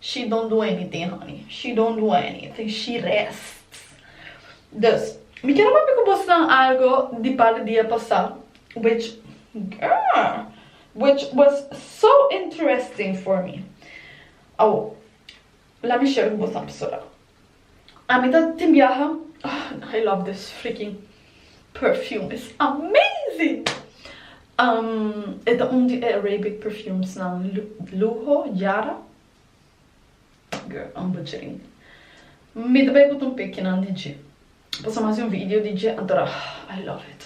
She don't do anything honey she don't do anything she rests dus mi quiero papia cu bos nan algo di par di dia pasa which girl which was so interesting for me awo la mi share cu bos nan pasobra. Ami ta tin biaha ah I love this freaking perfume it's amazing e ta un di e Arabic perfumes nan luho yara girl I'm butchering mi ta bay put un pekinan di dje pasobra mi hasi un video di dje anto ah I love it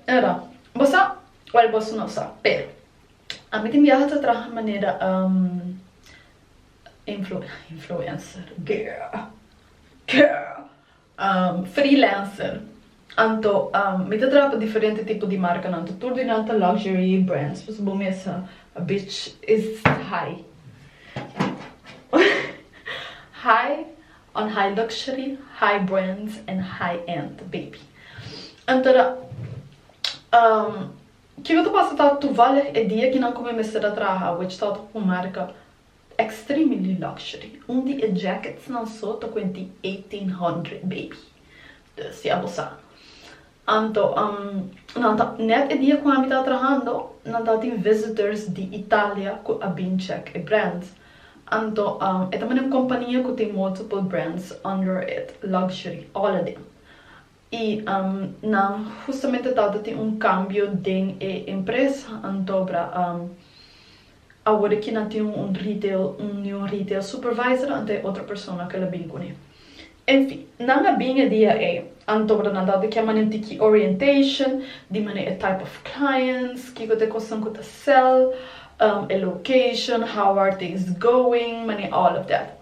era bo sa well boso no sa pero ami tin biaha ta traha manera influencer, freelancer, anto mi ta traha pa diferente tipo di marcanan anto tur di nan ta luxury brands pues bo mesa a bit is high high on high luxury high brands and high end baby anto ra kico ta pasa ta toevallig e dia kinan cu mi mester ta traha which ta tok un marca Extremely luxury, un di e jacketsnan so ta kuenti eighteen hundred baby. Dus ya bo sa. Anto, nan ta, nèt e dia ku ami ta trahando, nan tabatin visitors di Italia ku a bin check e brands. Anto, e ta mane un kompania ku tin multiple brands under it, luxury, all a dem. Y nan justamente tata tin un cambio den e empresa antobra awor ki nan tin un retail un new retail supervisor anta e otro persona ke la bin cune. En fin, nan a bin e dia ey antobra nan tata kia mane tiki orientation di mane e type of clients, kiko ta e cosnan cu ta sell, e location, how are things going, mane all of that.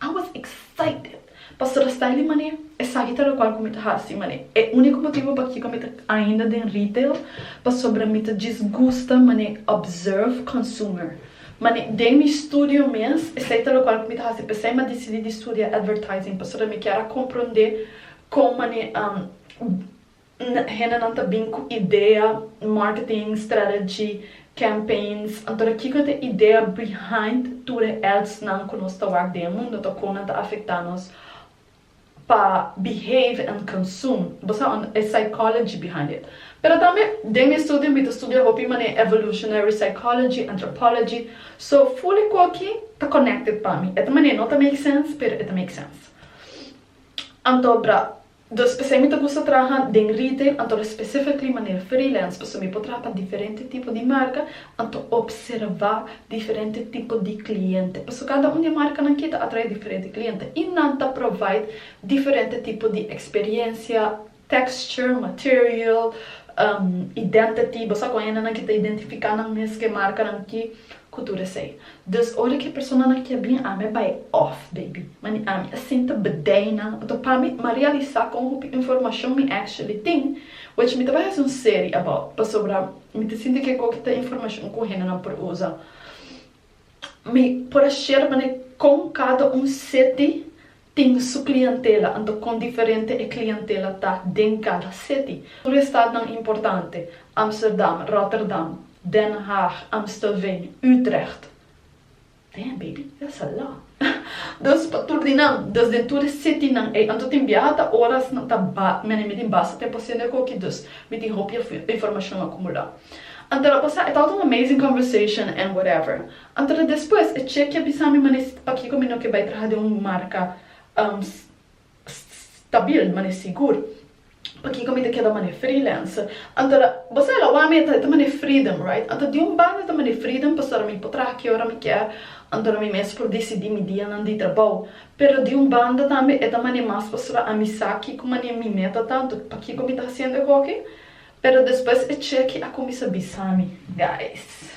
I was excited pasobra sta el di manera, esaki ta locual cu mi ta haci manera. E unico motibo pakiba mi ta ainda den retail pasobra mi ta djis gusta manera observe consumer. Manera den mi studio mes, esey ta locual cu mi ta haci pesey mi a dicidi di studia advertising pasobra mi kier a compronde con manera. Hendenan ta bin ku idea, marketing, strategy, campaigns, anto ta kiko ta e idea behind tur e adsnan ku nos ta wak den e mundo, anto kon nan ta afektá nos pa behave and consume? Bo sa unda e psychology behind it. Pero tambe den mi estudio mi ta studia hopi manera evolutionary psychology, anthropology, so full e ku aki ta connected pa mi. E ta manera no ta make sense pero e ta make sense. Anto bra Dos p'esei mi ta gusta traha den retail, anto specifically manera freelance, pasobra mi por traha pa diferente tipo di marca, anto observa diferente tipo di cliente, pasobra cada un di e marcanan ki ta atrae diferente cliente y nan ta provide diferente tipo di experiencia, texture, material, identity, bo sa cu hay hendenan ki ta identifica nan mes cu e marcanan ki Cu tur esey. Dus ora cu e personanan kia bien ami a bay off, baby. Ma ni ami a sinta bdey nan. Oto pa mi, m'a realisa con hopi informacion mi actually tin. Wech mi ta bay haci un serie about. Pasobra mi ta sinti cu e goki ta informacion cu hendenan por usa. Mi por a share manera con cada un seti tin su clientela, anto con diferente e clientela ta den cada city. Tur e stadnan importante, Amsterdam, Rotterdam, Den Haag, Amstelveen, Utrecht. Damn baby, e as a lot. Dus pa tur di nan, dus den tur e citynan ey, anto tin biaha ta oras nan ta ba, mene mi tin basta tempo haciendo e coki, dus mi tin hopi informacion acumula. Anto lo pasa, e tabata un amazing conversation and whatever, Anto ta despues e chek ya bisa mi manera si pakiko mi no ke bai traha den un marka stabil, manera sigur. Pakiko mi ta keda manera freelancer. Anto ta, bo sa e la wak mi e ta manera freedom, right? Anto di un banda ta manera freedom pasobra mi por traha ki ora mi kier, anto na mi mes por disidí mi dianan di trabou. Pero di un banda tambe e ta manera mas pasobra ami sa kiko manera mi meta ta, anto pakiko mi ta hasiendo e hoki. Pero despues e chek a kuminsa bisa mi, guys.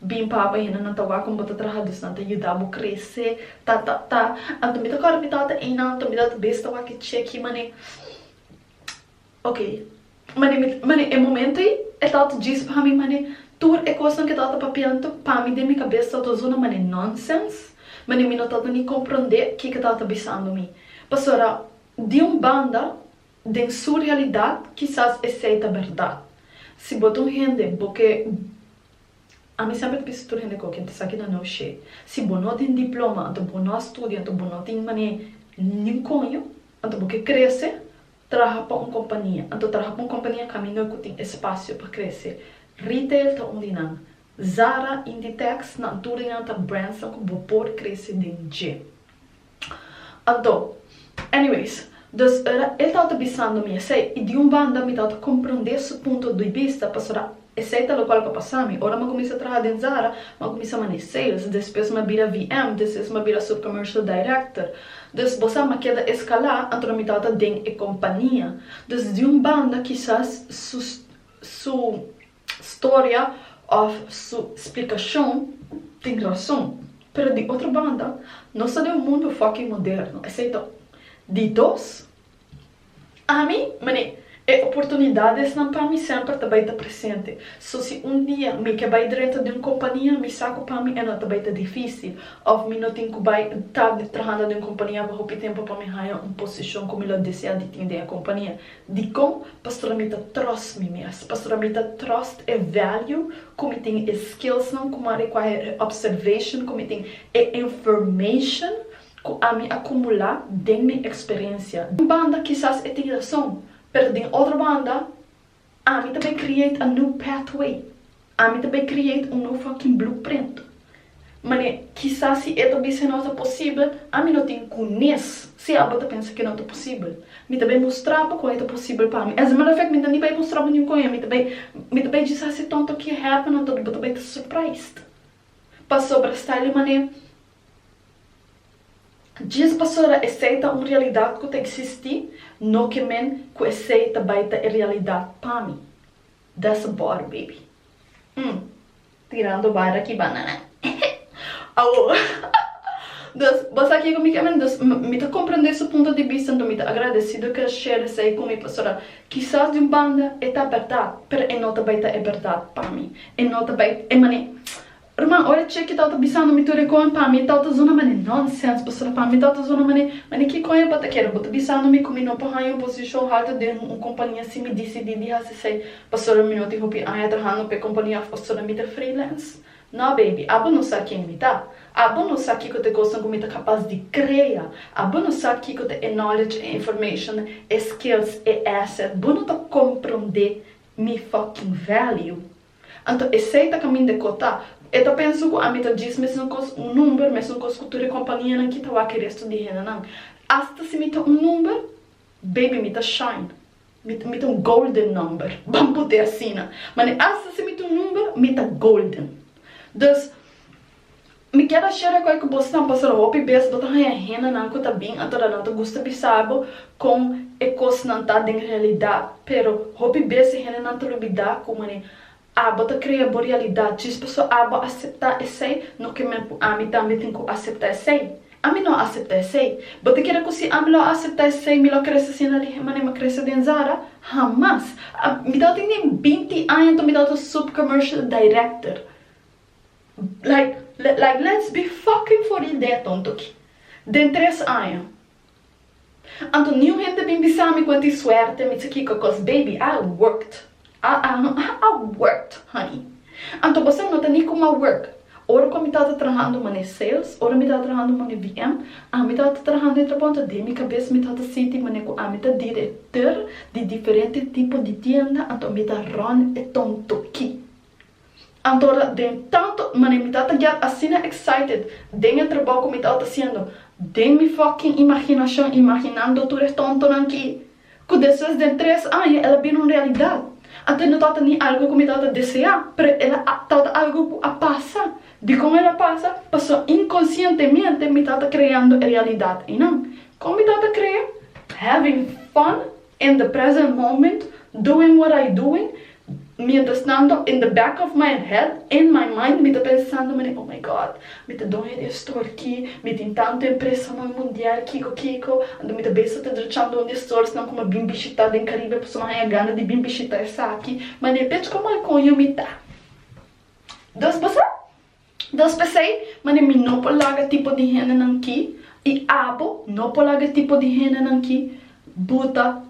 Bin papa hende nan ta wak como bo ta traha dus nan ta yuda bo crece ta ta ta anto mi ta corda mi tata eynan anto mi tata bes ta wak e che aki mane ok mane mi mane e momento ey e tata djis pa mi mane tur e cosnan cu e tata papia anto pa mi den mi cabes tata ta zona mane nonsense mane mi no tata ni compronde kico e tata bisando mi pasobra di un banda den su realidad kisas esey ta berdad si bo ta un hende bo ke Ami semper ta bisa tur hende cu aki ta sa kina no she. Si bo no tin diploma, anto bo no a studia, anto bo no tin mane nin coño, anto bo ke crece, traha pa un compania. Anto traha pa un compania cu ami no cu tin espacio pa crece. Retail ta un di nan. Zara, Inditex, nan tur enan ta brands cu bo por crece den dje. Anto, anyways, dus ora el tabata bisando mi esei i di un banda mi tabata komprondé su punto di bista pasobra esei ta lokual pa pasa mi. Ora mi a kuminsá traha den Zara, mi a kuminsá manee sales, despues mi a bira VM, despues mi a bira subcommercial director. Dus bo sa mi a keda eskalá anto mi tabata den e kompania. Dus di un banda kisas su su. storia of su splikashon tin rason pero di otro banda nos ta den un mundo fucking moderno esei ta un di dos ami mane e oportunidades nan pa mi semper ta bai ta presente so si un dia mi ke bai drento di un kompania mi sa ku pa mi e no ta bai ta difisil of mi no tin ku bai ta trahando den un kompania pa hopi tempo pa mi haña un posishon ku mi lo desea di tin den e kompania Dikon? Pasobra mi ta tròst mi mes. Pasobra mi ta tròst e vèlju ku mi tin, e skillsnan ku mi a rekuahe, e observashon ku mi tin, e informashon ku ami a kumulá den mi eksperensia. Un banda kisas e tin rason, pero den otro banda ami ta bai krieet a new pathway Ami ta bai create un no fucking blueprint. Mane, kisas si e ta bisa e no ta posibel, ami no tin kunes si abo ta pensa ke no ta posibel. Mi ta bai mostrabo kon e ta posibel pa mi. As a matter of fact, mi no ta ni bai mostrabo niun kon e, mi ta bai mi ta bai djis hasi ton tok ke happen anto bo ta bai ta surprised. Pasobra Stylie Mané, djis pasobra esei ta un realidat ku ta existi, no ke men ku esei ta bai ta e realidat pa mi. Da su bor baby. Umm tirando barra aki banana hehehe awo dos bo sa kico mi kier mende dos mi ta comprende su punto di vista enton mi ta agradecido cu el share esey cu mi pasobra kisas di un banda e ta berdad pero e no ta bay ta e berdad pa mi e no ta bay e mane. Rma, ora Cheki tau ta bisando mi tur e kon, pa mi tau ta zona mane nonsens, pasobra pa mi tau ta zona mane, mane kikon e bo ta kere? Bo ta bisando mi ku mi no por haña un posishon haltu den un kompañia si mi disidí di hasi esei pasobra mi no tin hopi aña trahando pa e kompañia òf pasobra mi ta freelance? Nò, baby, abo no sa ken mi ta. Abo no sa kiko ta e kosnan ku mi ta kapas di krea. Abo no sa kiko ta e knowledge, e information, e skills, e asset. Bo no ta komprondé mi fucking value. Anto esei ta kamin de kota. E ta pensa ku ami ta djis mesunkos un number, mesunkos ku tur e kompanianan ki ta wak e restu di hendenan. Asta si mi ta un number, baby mi ta shine. Mi, mi ta un golden number, ban put'e asina. Mane asta si mi ta un number, mi ta golden. Dus. Mi keda shera ku e ku bo sta pasando hopi bes bo ta haña hendenan ku ta bin atora nan ta gusta bisa bo kon e kosnan ta den realidat pero hopi bes e hendenan ta lubida ku mane abo ta krea bo realidat djis paso abo asepta esei no ke men ku ami tambe tin ku asepta esei ami no asepta esei bo ta kere ku si ami lo a asepta esei mi lo a krese asina lihe mane mi a krese den zara hamas mi tabata tin den binti aña nto mi tabata sub commercial director. Like like let's be fucking for real dea tonto aki den tres aña anto ni un hende bin bisami cu a tin suerte mi ta kiko cos baby I worked I worked honey anto bo sa no ta ni cu ma work ora cu mi tawata trahando mane sales ora mi tawata trahando mane BM ami tawata trahando entre ponto den mi cabes mi tawata sinti mane cu ami ta director di diferente tipo di tienda anto mi ta run e tonto aki. Antora den tanto manera mi ta tagial asina excited den e trabao cu mi tawat haciendo den mi fucking imaginacion imaginando tur e tontonan ki cu despues den tres aña el a bini un realidad. Antes no tawata ni algo cu mi tawata desea pero el a tawata algo cu a pasa. Dicon el a pasa? Paso inconscientemente mi tawata creando e realidad eynan. Con mi tawata crea? Having fun? In the present moment, doing what I doing, mientras tanto, in the back of my head, in my mind, mi ta pensando manera, oh my God, mi ta don e restor ki, mi tin tantu empresanan mundial, kiko kiko, anto mi ta besa ta drechando un di e storesnan ku mi a bin bishitá den Caribe pasobra mi a haña gana di bin bishitá esaki, mane pech komo al koño mi ta. Dos bo sa? Dos p'esei, manera mi no por laga tipo di hendenan ki, i abo no por laga tipo di hendenan ki, buta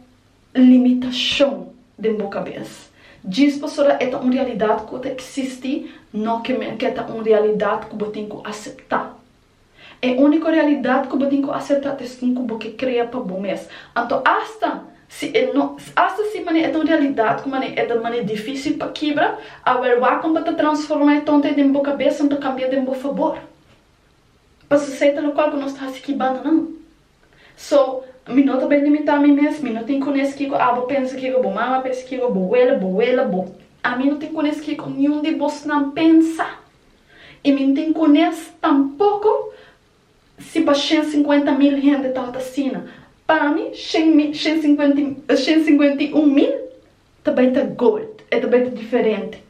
limitashon den bo kabes. Djis pasobra e ta un realidat ku ta eksistí, no ke men ku e ta un realidat ku bo tin ku aseptá. E úniko realidat ku bo tin ku aseptá ta esun ku bo ke krea pa bo mes. Anto asta si e no asta si manera e ta un realidat ku manera e ta manera difísil pa kibra, a wer wak pa ta transformá e tontai den bo kabes anto kambiá den bo fabor. Pasobra esei ta lokual ku nos ta hasi ki bandoná. So, mi no ta ben limitá mi mes, mi no tin ku nes kiko abo pensa, kiko bo mama pensa, kiko bo wele, bo wele, bo. A mi no tin ku nes kiko niun di bosnan pensa. I mi no tin ku nes tampoko si pa shen sinkuenta mil hende tabata asina. Pa mi, shen mi, shen sinkuenta, shen sinkuenta i un mil ta bai ta gold, e ta bai ta diferente.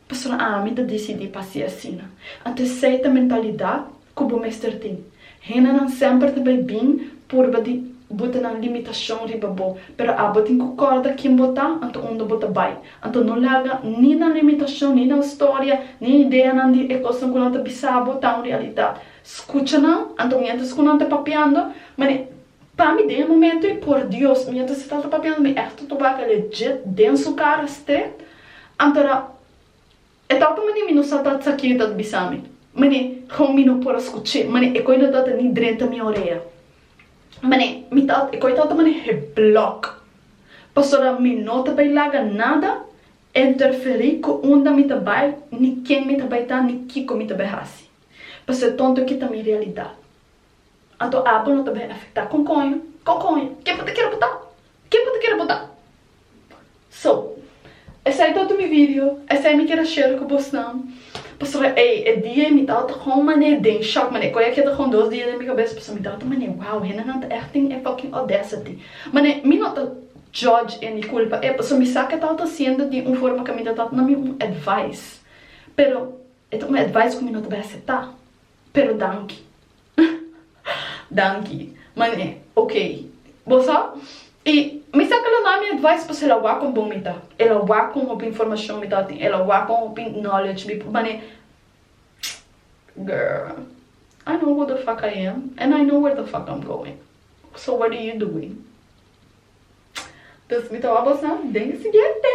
Pasobra ami ta disidí pa hasi asina. Anto esei ta mentalidat ku bo mester tin. Hendenan semper ta bai bin purba di bo ta nan limitashon riba bo, pero abo tin ku kòrda kin bo ta, anto unda bo ta bai. Anto no laga ni nan limitashon, ni nan storia, ni ideanan di e kosnan ku nan ta bisa bo ta un realidat. Skucha nan, anto miéntras ku nan ta papiando, mane. Pa mi den e momento ei por Dios mi a ta seta ta papia mi echte tobaka legit den su cara ste anto na e ta oca mane mi no sa ta sa kin e ta ta bisa mi mane con mi no por a scuche mane e coi no ta ta ni drenta mi orea mane mi ta e coi ta ta mane he block pasobra mi no ta bay laga nada interferi cu unda mi ta bay ni ken mi ta bay ta ni kico mi ta bay hasi pasobra e tonto kita mi realidad. Anto Apple no ta bini afecta con coño? Con coño? Ken bo ta kere bota? Ken bo ta kere bota? So, esai todo mi video, esai mi kere share cu bosnan, pasobra ey e dia ey mi tabata con mane den shock, mane coño a keda con dos dia den mi cabeza, pasobra mi tabata mane wow, hendenan ta echt tin e fucking audacity. Mane mi no ta judge e ni culpa e, pasobra mi sa cu e tabata haciendo di un forma cu mi ta dando mi un advice, pero e ta un advice cu mi no ta bay acepta. Pero danki. Danki. Man'e, ok. Bo sa? I mi sa ke lo na mi advice pasobra el a wak kon bon mi ta. El a wak kon hopi informashon mi tabata tin. El a wak kon hopi knowledge mi. Man'e, girl, I know who the fuck I am and I know where the fuck I'm going. So what are you doing? Tus mi ta wak bo sa? Den e siguiente!